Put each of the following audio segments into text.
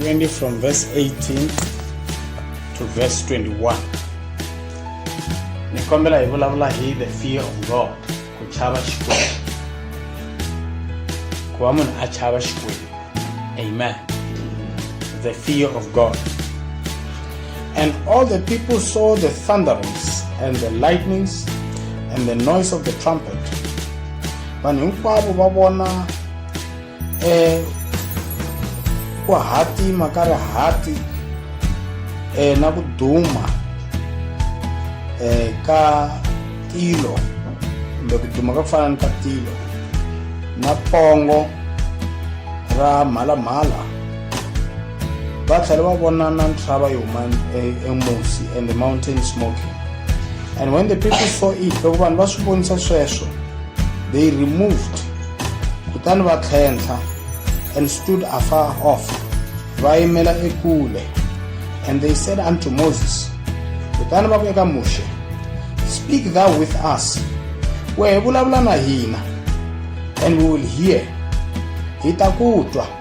20 from verse 18 to verse 21 ni kombela hi vulavula hi the fear of god ku chava xikwembu ku va munhu a chava xikwembu amen the fear of god and all the people saw the thunderings and the lightnings and the noise of the trumpet vanhu hinkwavo va vona um ku hatima ka rihati um na ku duma um ka tilo kumbe ku duma ka ku fana ni ka tilo na pongo ra mhalamhala va tlhela va vona na nhlava yi huma emusi and the mountain smoking and when the people saw it loko vanhu va swi vonisa sweswo they removed kutani va tlhentlha and stood afar off va yimela ekule and they said unto moses kutani va ku eka muxe speak thou with us wehe vulavula na hina and we will hear hi ta ku twa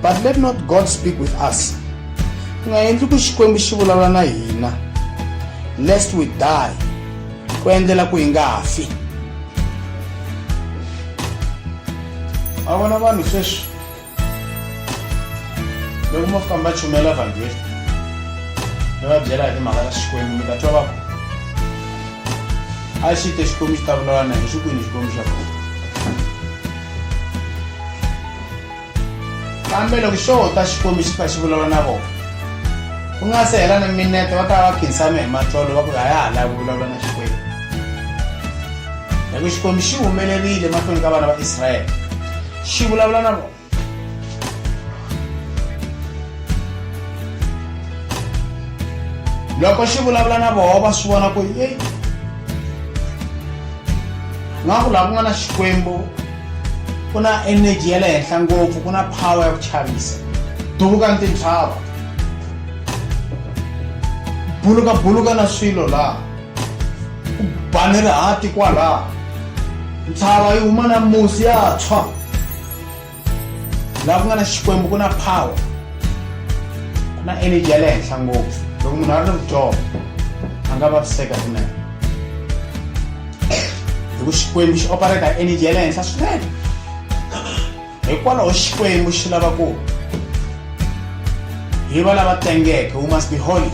but let not god speak with us u nga endli ku xikwembu xi vulavula na hina lest we die ku endlela ku hi nga ha fi a vona vanhu sweswi loko mo famba chumela vhangeli mi va byela hi timhaka ta xikwembu mi ta twa va a xi te xikwembu xi ta vulavula na hi xikwini xikwembu xa kona kambe loko xo ta xikwembu xi kha xi vulavula na vona ku nga se hela na minete va ta va va khinsame hi matlolo va ku a ya ha lavi ku vulavula na xikwembu loko xikwembu xi humelerile mahlweni ka vana va israyele xi vulavula na vona loko xi vulavula na voho va swi vona ku eyi nga ku laha ku nga na xikwembu ku na energy ya le henhla ngopfu ku na power ya ku chavisa duvuka ntintshava buluka buluka na swilo laha ku bani rihati kwalaha ntshava yi huma na musi ya tshwa laha ku nga na xikwembu ku na power ku na energy ya le henhla ngopfu loko munhu a ri ni vudyoho a nga vaviseka kunene hi ku xikwembu xi opereta hi energy ya le henhla swinene hikwalaho xikwembu xi lava ku hi va lava tengeke we must be holy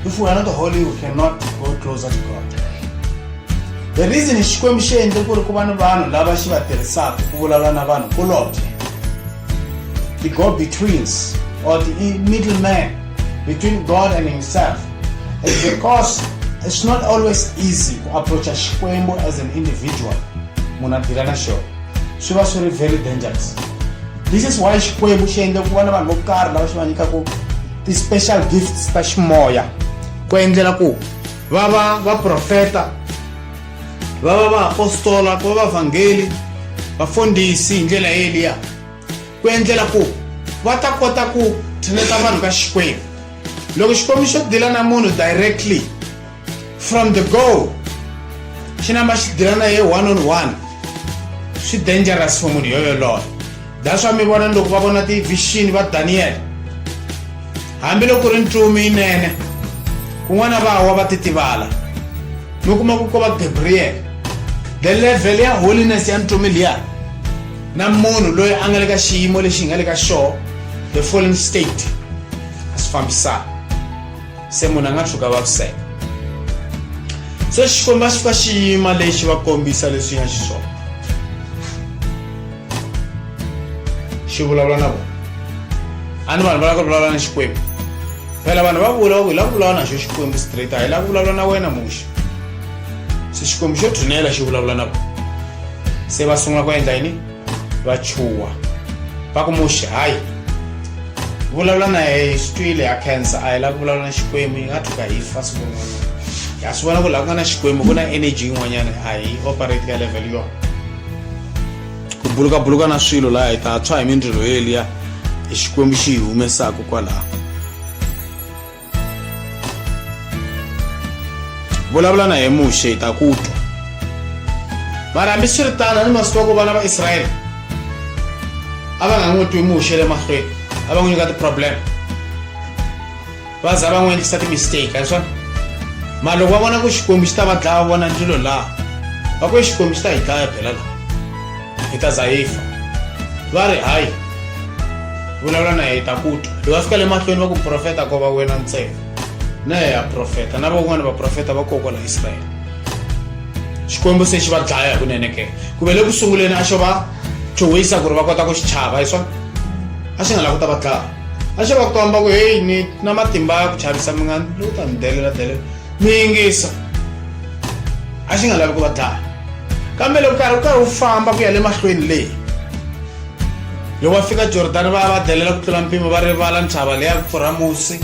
if we are not holy we cannot go closer to god the reason xikwembu xi endle ku ri ku va ni vanhu lava xi va tirhisaka ku vulavula na vanhu kulobye the go betweens or the middleman between God and Himself is because it's not always easy to approach a Xikwembu as an individual. Munadirana show. She was very, very dangerous. This is why Xikwembu xi endle ku va na vanhu vo karhi lava xi va nyikaku ti-special gifts ta ximoya ku endlela ku va va va profeta va va vaapostola ku va vavhangeli vafundhisi hi ndlela yeliya ku endlela ku va ta kota ku tshineta vanhu ka xikwembu loko xikwembu xo dila na munhu directly from the go xi namba xi dila na ye one on one swi dangerous for munhu yoyoloyo that's why mi vona loko va vona ti-vision va daniyele hambiloko ku ri ntsumi yinene kun'wana va wa va titivala mi kuma ku ko va gabriel the level ya holiness ya ntomi liya na munhu loyi a nga le ka xiyimo lexi hi nga le ka xoho the fallen state a swi fambisana se munhu a nga tshuka vaviseka se xikwembu a xi fika xiyima lexi va kombisa leswi nga xiswona xi vulavula na vona a ni vanhu va lava ku vulavula na xikwembu phela vanhu va vula va ku hi lava ku vulavula na xo xikwembu straight a hi lava ku vulavula na wena muxa se xikwembu xo thunela xi vulavula na vona se va sungula ku endla yini va chuwa va ku muxi hayi vulavula na yehe hi swi twile ya cancer a hi lava ku vulavula na xikwembu yi nga thuka hi fa siku rin'wanyana ha swi vona ku laha ku nga na xikwembu ku na energy yin'wanyana a hi operate ka level yona ku bulukabuluka na swilo laha hi ta tshwa hi mindzilo yeliya hi xikwembu xi hi humesaka kwalaho vulavula na hi muxe hi ta ku twa mara hambi swi ri tano ni masiku ya ku vana va israyele a va nga n'wi twi muxe le mahlweni a va n'wi nyika ti-problem va za va n'wi endlisa timistake a swona mara loko va vona ku xikwembu xi ta va dlaya vona ndlilo laha va ku xikwembu xi ta hi dlaya phela laha hi ta za hi fa va ri hayi vulavula na hi ta ku twa hi va fika le mahlweni va ku profeta ko va wena ntsena na ya profeta na van'wana vaprofeta va kokwala israyele xikwembu se xi va dlaya hi kunene ke ku ve le ku sunguleni a xo va chuhisa ku ri va kota ku xi chava hi swona a xi nga lavi ku ta va dlaya a xo va komba ku heyi ni na matimba ya ku chavisa mi nga lowu ta ni delela delela mi yingisa a xi nga lavi ku va dlaya kambe loko karhi u karhi u famba ku ya le mahlweni leyi loko va fika jordani va ya va delela ku tlula mpimo va rivala ntshava leya ku pfurha musi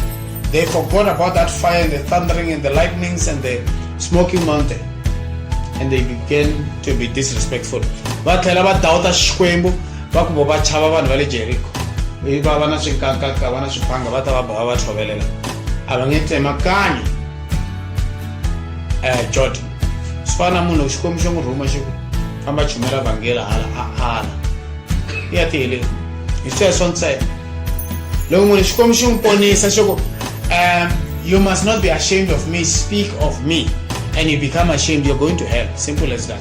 they forgot about that fire and the thundering and the lightnings and the smoking mountain and they began to be disrespectful va tlhela va dawuta xikwembu va ku vo va chava vanhu va le jeriko i va va na swinkakaka va na swipanga va ta va boha va tshovelela a va nge tsemakani um eh, jordan swi fana na munhu xikwembu xo n'wi rhuma xi ku famba chumela vhangela hala a ala i ya tihele hi sweswo ntsena loko munhu xikwembu xi n'wi ponisa xi ku um you must not be ashamed of me speak of me and you become ashamed you're going to hell simple as that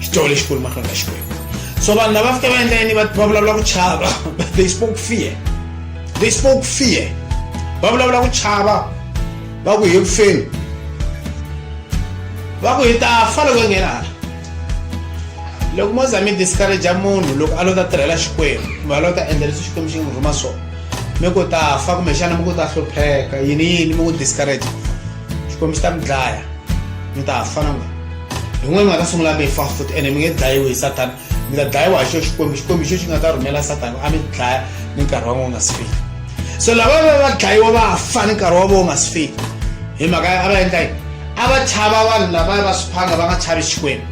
xitolo lexikulu mahlweni ka xikwembu so vanhu lava fika va endla yini va vulavula ku chava they spoke fear they spoke fear va vulavula ku chava va ku hi kufeni va ku hi ta fa loko nghena hala loko mo za mi discouragea munhu loko a lo ta tirhela xikwembu kumbe a lo ta endla leswi xikwembu xi n'wi rhuma swona mi ku ta fa kumbexana mi ku ta hlupheka yini yini mi ku discourage xikwembu xi ta mi dlaya mi ta fa na n'wina hi n'we mi nga ta sungula mi fa futhi ene mi nge dlayiwi hi sathana mi ta dlayiwa hi xo xikwembu xikwembu xo xi nga ta rhumela sathana a mi dlaya ni nkarhi wa n'we wu nga si fika so lava va va dlayiwa va fa ni nkarhi wa vo wu nga si fika hi mhaka a va endla yini a va chava vanhu lava va swiphanga va nga chavi xikwembu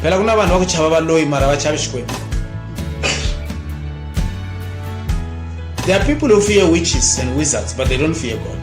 phela ku na vanhu va ku chava valoyi mara va chavi xikwembu there are people who fear witches and wizards but they don't fear god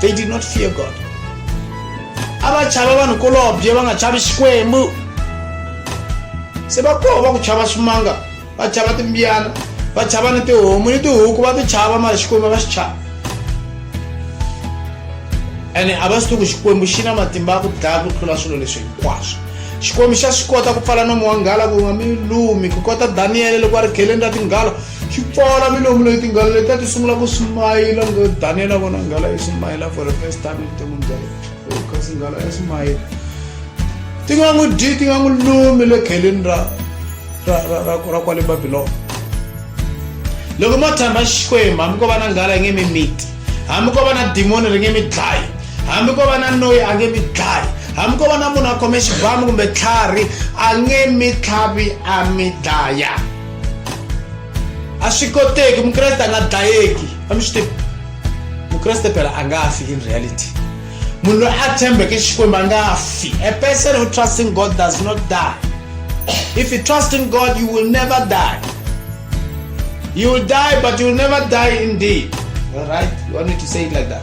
they did not fear god a va chava vanhu kolobye va nga chavi xikwembu se va koho va ku chava swimanga va chava timbiyana va chava ni tihomu ni tihuku va ti chava mara xikwembu va xi chava ene a va swi tiku xikwembu xi na matimba ya ku dlaya ku tlula swilo leswi hinkwaswo xikwembu xa swi kota ku pfala nomo wa nghala ku nga mi lumi ku kota daniyele loko a ri geleni ra tinghalo xi pfala milomu leyi tinghala letiya ti sungula ku smayila ngo daniela vona nghala yi smayila for the first time evuton'wini bya yena kasi nghala ya smayila ti nga n'wi dyi ti nga n'wi lumi le kheleni ra ra ra ra ra kwale babilona loko mo tshamba xikwembu hambi ko va na nghala yi nge mi miti hambi ko va na dimoni ri nge mi dlayi hambi ko va na noyi a nge mi dlayi hambi ko va na munhu a khome xibamu kumbe tlhari a nge mi tlhavi a mi dlaya a swi koteki mukreste a nga dlayeki a mi swi tivi mukreste phela a nga fi in reality munhu loyi a tshembeke xikwembu a nga fi a person who trust in god does not die if you trust in god you will never die you will die but you will never die indeed all right you want me to say it like that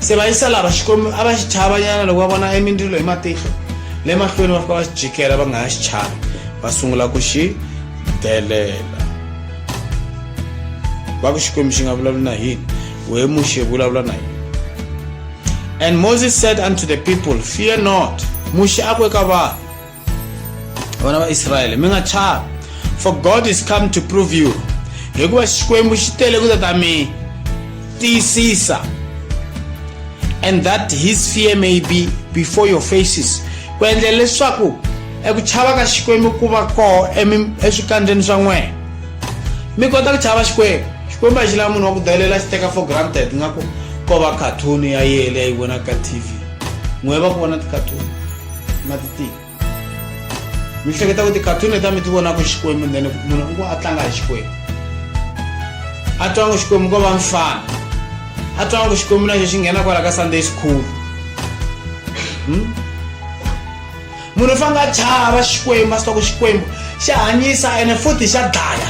se va yisa lava xikwembu a va xi chavanyana loko va vona emindzilo hi matihlo le mahlweni va fika va xi jikela va nga ha xi chavi va sungula ku xi delela va ku xikwembu xi nga vulavuli na hini we muxe vulavula na hini and moses said unto the people fear not muxe a ku eka vanhu vana va israyele mi nga chavi for god is come to prove you hikuva xikwembu xi tele ku ta ta mi tiyisisa and that his fear may be before your faces ku endlela leswaku eku chava ka xikwembu ku va koho eswikandzeni swa n'wena mi kota ku chava xikwembu xikwembu a xi lava munhu wa ku dalela xi teka for granted nga ku ko va cartoon ya yele ya yi vona ka tv n'we va ku vona ti-cartoon ma ti tiva mi hleketa ku ti-cartoon leta mi ti vonaka xikwembu then munhu u ku a tlanga hi xikwembu a twa ngo xikwembu ko va mfana a twa ngo xikwembu na xo xi nghena kwala ka sunday school hmm? munhu u fanele a chava xikwembu a swi twa ku xikwembu xa hanyisa ene futhi xa dlaya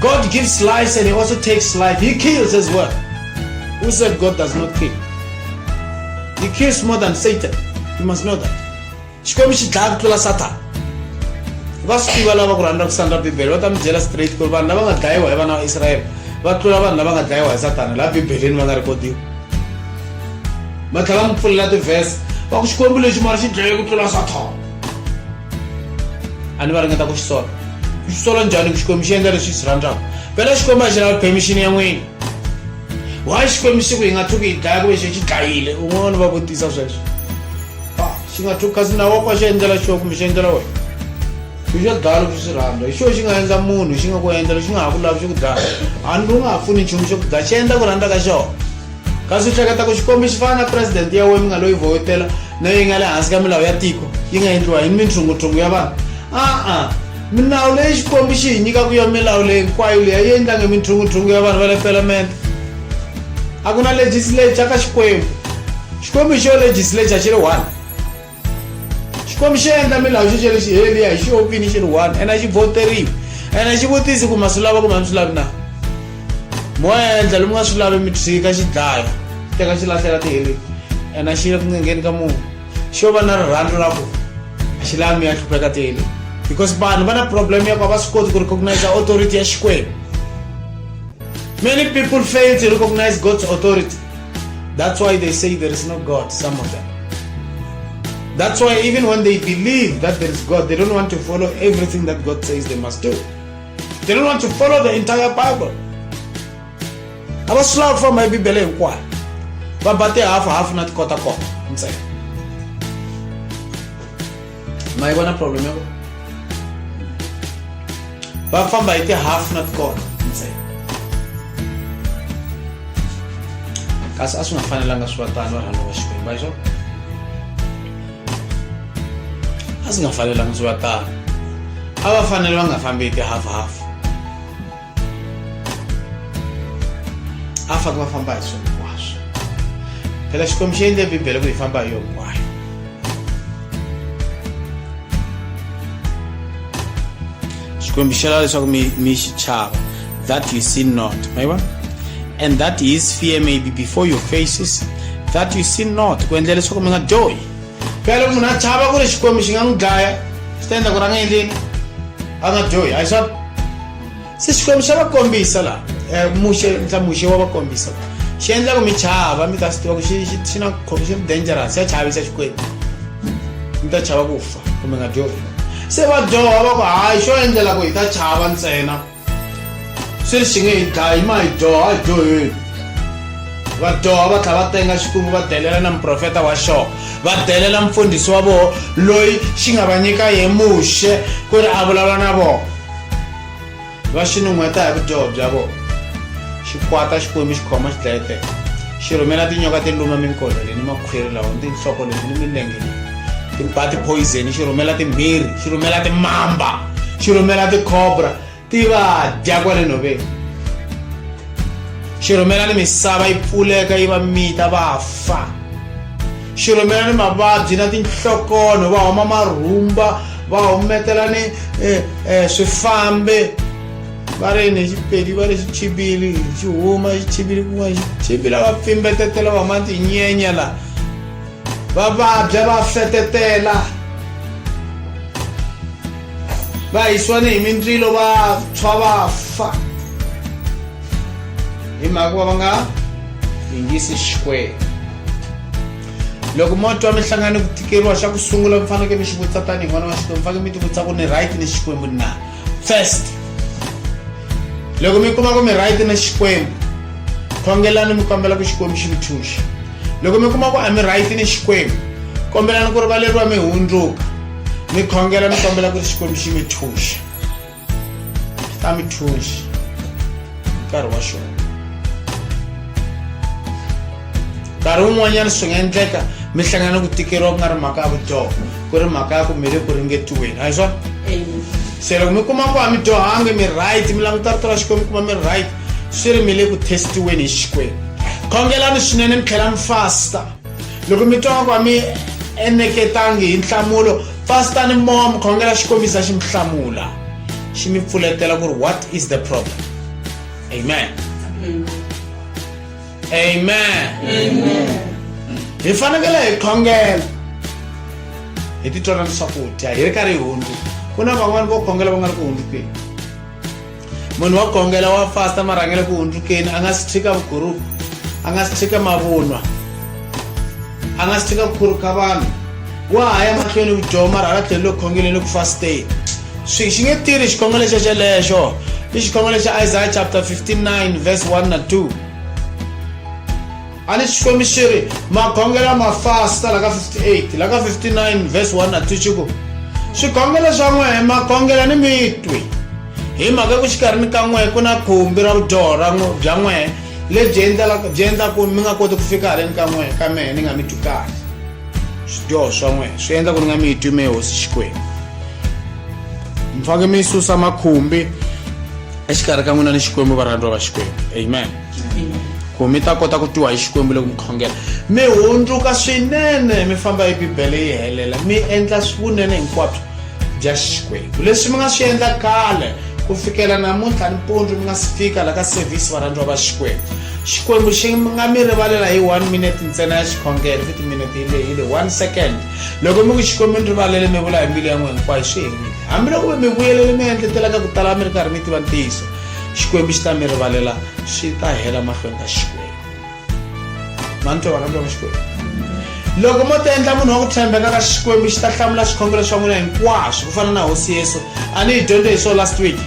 god gives life and he also takes life he kills as well who said god does not kill You kiss more than Satan. You must know that. Xikwembu xi dlaya ku tlula Satan. Va swi tiva lava ku rhandza ku sandra Bibele va ta mi byela straight ku ri vanhu lava nga dlayiwa hi vana va Israyele va tlula vanhu lava nga dlayiwa hi Satana laha Bibeleni va nga rhekodiwa. Va tlhela va mi pfulela tivhese va ku Xikwembu lexi mara xi dlaye ku tlula Satan. A ni va ringeta ku xi sola. Xi sola njhani ku Xikwembu xi endla leswi xi swi rhandzaka. Phela Xikwembu a xi lavi permission ya n'wina. why xikwembu xi ku hi nga tshuki hi dlaya ku ve xi xi dlayile un'wana va vutisa sweswo a ah, xi nga tshuki kasi nawu wa kwa xi endlela xo kumbe xi endlela wena xi xo dlaya loko swi rhandza hi xo xi nga endla munhu xi nga ku endla lexi nga ha ku lavi xi ku dlaya hambi u nga ha pfuni nchumu xo ku dlaya xi endla ku rhandza ka xona kasi u hleketa ku xikombi xi fana na presidente ya wena mi nga loyi vhotela na yi nga le hansi ka milawu ya tiko yi nga endliwa hi minthungutshungu ya vanhu a-a milawu leyi xikwembu xi hi nyikaku ya milawu leyi hinkwayo leyi a yi endlange minthungutshungu ya vanhu va le pelamende a ku na legislature ka xikwembu xikwembu xo legislature xi ri one xikwembu xi endla milawu xo xele xi heliya hi xiopini xi ri one ene a xi voteriwi ene xi vutisi ku ma swi lava kumbe a mi swi lavi na mo endla lomu nga swi lavi mi tshika xi dlaya teka xi lahlela tiheleni ene a xi le ku ngengeni ka munhu xo va na rirhandzu ra ku a xi lavi mi ya hlupheka tele because vanhu va na problem ya ku a va swi koti ku recognize authority ya xikwembu many people fail to recognize god's authority that's why they say there is no god some of them that's why even when they believe that there is god they don't want to follow everything that god says they must do they don't want to follow the entire bible a va swi lava ku famba hi bibele hinkwayo va ba tihafu hafu na tikotakota ntsena ma yi vona problem ya va famba hi tihafu na tikota ntsena kasi a swi nga fanelanga swi va tani va rhandza va xikwembu va xona a swi nga fanelanga swi va tani a va fanele va nga fambi hi tihafuhafu a va fanele va famba hi swona hinkwaswo phela xikwembu xi endle bibele ku hi famba hi yo hinkwayo xikwembu xi lava leswaku mi mi xi chava that you see not ma vona and that his fear may be before your faces that you see not ku endlela leswaku mi nga dyohi phela loko munhu a chava ku ri xikwembu xi nga n'wi dlaya swi ta endla ku ri a nga endleni a nga dyohi a hi swona se xikwembu xa va kombisa la eh, muxe ntla muxe wa va kombisa xi endla ku mi chava mi ta swi tiva ku xi na xi dangerous xa chavisa xikwembu mi ta chava ku fa kumbe nga dyohi se va dyoha va ku hayi xo endlela ku hi ta chava ntsena swi ri xi nge hi dlayi ma hi dyoha a dyoheni va dyoha va tlha va tenga xikwembu va delela na muprofeta wa xona va delela mfundhisi wa vona loyi xi nga va nyika hi muxe ku ri a vulavula na vona va xi nun'hweta hi vudyoho bya vona xi kwata xikwembu xi khoma xi dlayeteka xi rhumela tinyoka ti luma minkolo leyi ni makhwiri lawa ni tinhloko leti ni milenge leyi ti ba tiphoyizeni xi rhumela timbirhi xi rhumela timamba xi rhumela tikhobra ti va dya kwale nhoveni xi rhumela ni misava yi pfuleka yi va mita va fa xirhumela ni mavabyi na tinhlokonho va huma marhumba va humetela ni eh, eh, swifambe va ri ni xipedi va ri xichibili xi huma xichibili kun'wana xichibila va pfimbetetela va huma tinyenya la va vabya va fetetela va hisiwa ni hi mindzilo va tshwa va fa hi mhaka va va nga yingisi xikwembu loko mo twa mi hlangane ku tikeriwa xa ku sungula mi fanekele mi xi vutisa tanihi n'wana wa xikwembu fanekele mi ti vutisa ku ni right ni xikwembu na first loko mi kuma ku mi right na xikwembu khongelani mi kombela ku xikwembu xi mi thuxa loko mi kuma ku a mi right ni xikwembu kombelani ku rivaleriwa mi hundzuka mi khongela mi kombela ku ri xikwembu xi mi thuxa a mi thunxi nkarhi wa xona nkarhi wun'wanyana swi nga endleka mi hlangana ku tikeriwa ku nga ri mhaka ya vudyoho ku ri mhaka ya ku mi le ku ringetiweni a hi swona se loko mi kuma ku a mi dyohangi mi right mi languta rito ra xikwembu kuma mi right swi ri mi le ku testiweni hi xikwembu khongelani swinene mi tlhela mi fasta loko mi twa ku a mi eneketangi hi nhlamulo fastani mowa mi khongela xikomisa xi mi hlamula xi mi pfuletela ku ri what is the problem amen amen hi fanekele hi khongela hi titwela ni swakudya hi ri karhi hi hundzu ku na van'wani vo khongela va nga ri ku hundzukeni munhu wa gongela wa fasta marhangele ku hundzukeni a nga si tshika vuguruku a nga si tshika mavunwa a nga si tshika ku khuruka vanhu wa ha ya mahlweni vudyoho mara hala tlhelo loko khongeleni ku fasteni swi xi nge tirhi xikhongelo xo xelexo i xikhongelo xa isaya chapter 59 verse 1 na 2 a ni xikwembu xi ri magongelo ma fasta la ka 58 la ka 59 vhesi 1 na 2 xi ku swigongelo swa n'we magongelo ni mitwi hi mhaka ku xikarhi ni ka n'we ku na khumbi ra vudyoho bya n'we lebyi byi endlaku mi nga koti ku fika haleni ka n'we ka mehe ni nga mi twi kahle swidyoho swa n'we swi endla ku ni nga mi twi mehe hosi xikwembu mi faneke mi susa makhumbi exikarhi ka n'wina ni xikwembu varhandziwa va xikwembu amen ku mi ta kota ku twiwa hi xikwembu le ku mi khongela mi hundzuka swinene mi famba hi bibele yi helela mi endla vunene hinkwabyo bya xikwembu leswi mi nga swi endla kale ku fikela namuntlha nimpundzu mi nga si fika la ka sevhisi varhandziwa va xikwembu xikwembu xi nga mi rivalela hi one minute ntsena ya xikhongelo futi minute yi lehile one second loko mi ku xikwembu ni rivalele mi vula hi mbilu ya n'we hinkwayo swi herile hambiloko mi mi vuyelele mi endletelaka ku tala mi ri karhi mi tiva ntiyiso xikwembu xi ta mi rivalela swi ta hela mahlweni ka xikwembu mani twa varhandza va xikwembu loko mo ti endla munhu wa ku tshembeka ka xikwembu xi ta hlamula swikhongelo swa n'wina hinkwaswo ku fana na hosi yesu a ni yi dyondze hi swo last week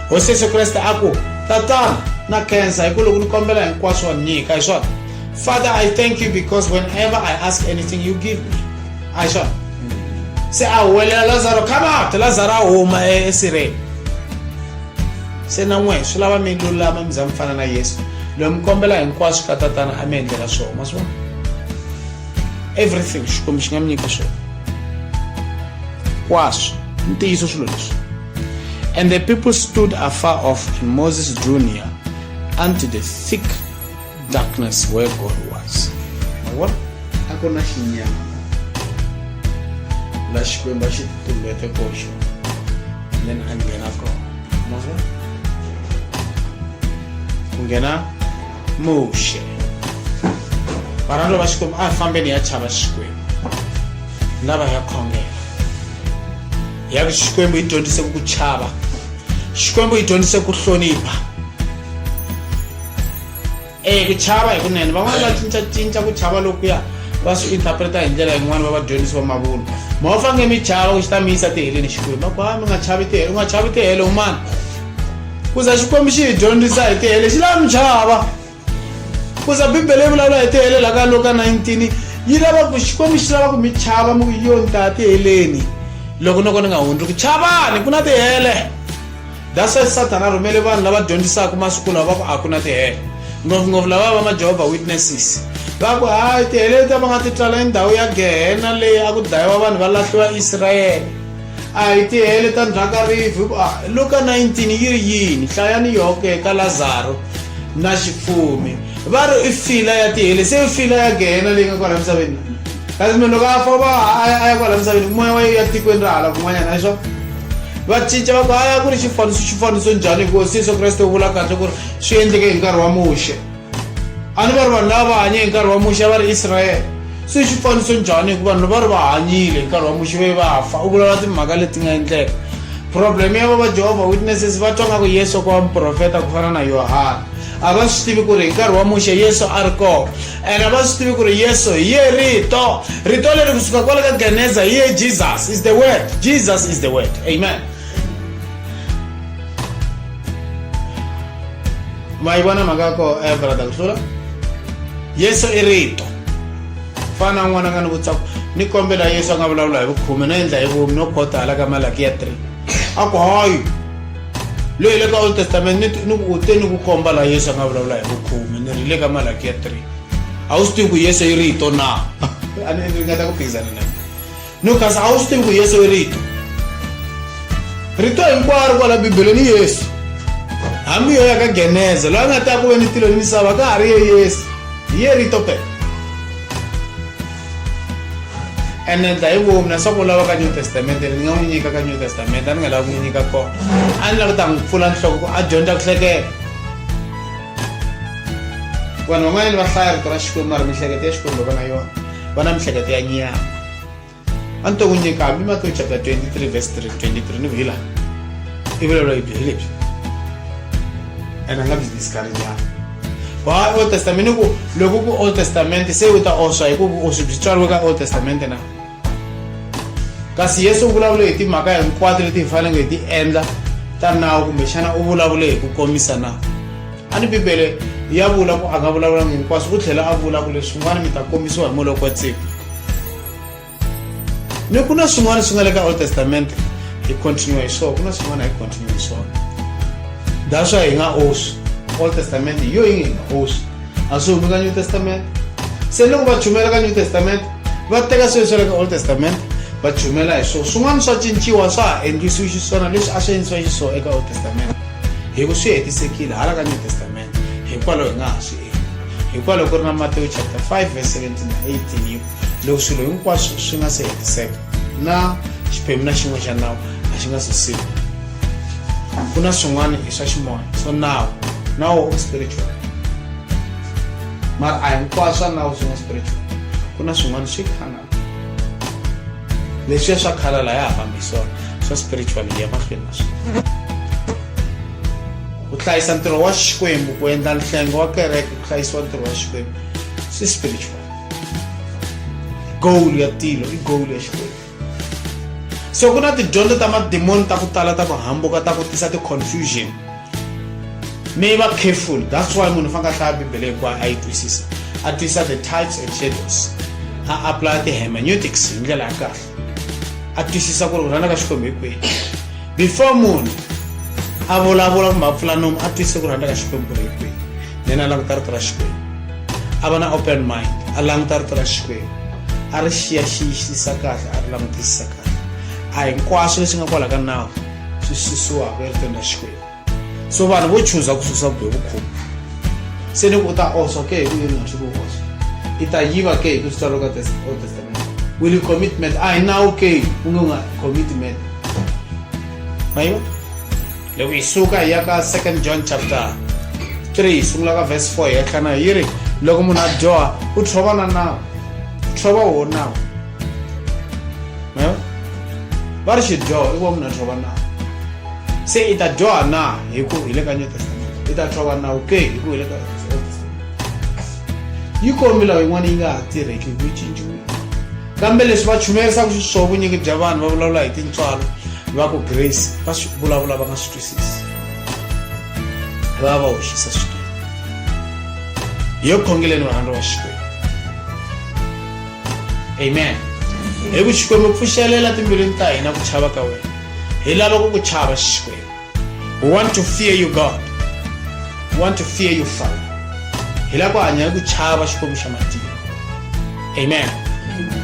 hosi yesu kreste a ku tatana na khensa hi ku loko ni kombela hinkwaswo wa nyika hi swona father i thank you because whenever i ask anything you give me a hi swona se a huwelela lazaro come out lazaro a huma esireni se na n'we swi lava mi lulama mi za mi fana na yesu loyi mi kombela hinkwaswo ka tatana a mi endlela swona ma swona everything xikwembu xi nga mi nyika swona kwaswo ntiyiso swilo leswi and the people stood afar off and moses drew near unto the thick darkness where God was. Mavona? A ku na xinyama la xikwembu a xi tumbete koxo and then a nghena kona mavona ku nghena muxe varhalo va xikwembu a hi fambeni ya chava xikwembu lava ya khongela ya ku xikwembu yi dyondzise ku chava xikwembu yi dyondzise ku hlonipha e ku chava hi kunene van'wana va cincacinca ku chava lokuya va swi interpreta hi ndlela yin'wana va vadyondzisi va mavunwa ma va fange mi chava ku xi ta mi yisa tiheleni xikwembu va ku ha mi nga chavi tihele u nga chavi tihele un'wana ku za xikwembu xi hi dyondzisa hi tihele xi lava mi chava ku za bibele yi vulavula hi tihele la ka loka 19 yi lava ku xikwembu xi lava ku mi chava mi ku yoni ta tiheleni loko noko ni nga hundzi ku chavani ku na tihele that's why sathana a rhumele vanhu lava dyondzisaka masiku lawa va ku a ku na tihele ngopfungopfu lava va majehovha witnesses va ku hayi tihele leti va nga ti tswala endhawu ya gehena leyi a ku dlayiwa vanhu va lahliwa israyele a hi tihele ta ndzhaka rivi luka 19 yi ri yini hlayani yoke ka lazaro na xifumi va ri i fila ya tihele se i fila ya gehena leyi nga kwala misaveni kasi munhu loko a famba a ya kwala misaveni moya wa ya tikweni ra hala kun'wanyana hi swona vacinca va ku haya ku ri xifaniso xifaniso njhani hikuva si yesu kreste u vula kahle ku ri swi endleke hi nkarhi wa muxe a ni va ri vanhu lava va hanye hi nkarhi wa muxe a va ri israele so i xifaniso njhani hikuva vanhu va ri va hanyile hi nkarhi wa muxe ve va fa u vulavula timhaka leti nga endleka problem ya vava jehovha witnesses va twa nga ku yesu ku va muprofeta ku fana na yohana a va swi tivi ku ri hi nkarhi wa muxe yesu a ri kona ene a va swi tivi ku ri yesu hi ye rito rito leri kusuka kwale ka geneza hi ye jesus is the word jesus is the word amen ma yi vona mhaka ya ko eh, brada ku hlula yesu i rito fana na n'wana nga ni vutsaku ni kombela yesu a nga vulavula hi vukhume no endla hi vumi no khota hala ka malaki ya 3 a ku hayi loyi le ka old testament ni ni ku u te ni ku komba laha yesu a nga vulavula hi vukhume ni ri le ka malaki ya three a wu swi tivi ku yesu i rito na a ni ringeta ku phikizana na no kasi a wu swi tivi ku yesu i rito rito hinkwaro kwala bibeleni i yesu hambi yo ya ka geneza loyi a nga ta ku ve ni tilo ni misava ka ha ri ye yesu hi ye rito phela and then dai wo na soko lawa ka new testament ni nga n'wi nyika ka new testament a ni nga lavi ku n'wi nyika kona a ni lava ku ta n'wi pfula nhloko ku a dyondza ku hleketa vanhu van'wanyani va hlaya rito ra xikwembu mara mihleketo ya xikwembu va na yona va na mihleketo ya nyama a ni to n'wi nyika hambi matiyo chapter 23 verse 3 23 ni vhila i vulavula hi bihilebyi and a nga byi discarinyana wa old testament ku loko ku old testament se u ta oswa hi ku vuoswi byi tswariwe ka old testament na kasi yesu u vulavule hi timhaka hinkwato leti hi faneleke hi ti endla ta nawu kumbexana u vulavule hi ku komisa na a ni bibele ya vula ku a nga vulavulanga hinkwaswo ku tlhela a vula ku leswin'wana mi ta kombisiwa hi moloko wa tsiko ni ku na swin'wana swi nga le ka old testament hi continue hi swona ku na swin'wana hi continue hi swona that's why hi nga oswi old testament hi yo yi nge hi nga oswi a swi humi ka new testament se loko va chumela ka new testament va teka swilo swa le ka old testament va chumela hi swona swin'wana swa cinciwa swa ha endlisiwi xiswona leswi a swi endlisiwa xiswona eka old testament hi ku swi hetisekile hala ka new testament hikwalaho hi nga ha swi endli hikwalaho ku ri na matewu chapter 5 verse 17 na 18 loko swilo hinkwaswo swi nga se hetiseka na xiphemu na xin'we xa nawu a xi nga se siku ku na swin'wana i swa ximoya swo nawu nawu u spiritual mara a hinkwaswo swa nawu swi nga spiritual ku na swin'wana swi khana leswiya swa khala la ya ha fambi swona swa spiritual ya mahlweni na swona ku hlayisa ntirho wa xikwembu ku endla nhlengo wa kereke ku hlayisiwa ntirho wa xikwembu swi spiritual goal ya tilo i goal ya xikwembu so ku na tidyondzo ta madimoni ta ku tala ta ku hambuka ta ku tisa ti-confusion mi va careful that's why munhu faneke a hlaya bibele hikuva a yi twisisa a twisisa the types and shadows a apply ti-hermeneutics hi ndlela ya kahle a twisisa ku ri ku rhandza ka xikwembu hi kwihi before munhu a vulavula kumbe a pfula nomu a twisise ku rhandza ka xikwembu ku ri hi kwihi then a languta rito ra xikwembu a va na open mind a languta rito ra xikwembu a ri xiyaxiyisisa kahle a ri langutisisa kahle a hinkwaswo leswi nga kwala ka nawu swi susiwaka eritweni ra xikwembu so vanhu vo chuza ku susa vubihi vukhumba se loko u ta oswa ke hi kuyini nga swi ku oswa i ta yiva ke hi ku swi tswalo ka old testament will you commitment a hi nawu ke u nge u nga commitment ma yiva loko hi suka hi ya ka second john chapter 3 hi sungula ka verse 4 hi ya tlhana hi ri loko munhu a dyoha u tshova na nawu u tshova woho nawu va ri xidyoho i wa munhu a tshova nawu se i ta dyoha na hi ku hi le ka new testament i ta tshova nawu ke hi ku hi le ka yi kombila yin'wana yi nga ha tirheki hi ku yi cinciwile kambe leswi va chumerisaka xiswona vunyingi bya vanhu va vulavula hi tintswalo va ku grace va swi vulavula va nga swi twisisi va va hoxisa swikwembu hi yo khongeleni varhandza wa xikwembu amen hi ku xikwembu pfuxelela timbilwini ta hina ku chava ka wena hi lava ku ku chava xikwembu we want to fear you god we want to fear you father hi lava ku hanya hi ku chava xikwembu xa matiko amen, amen.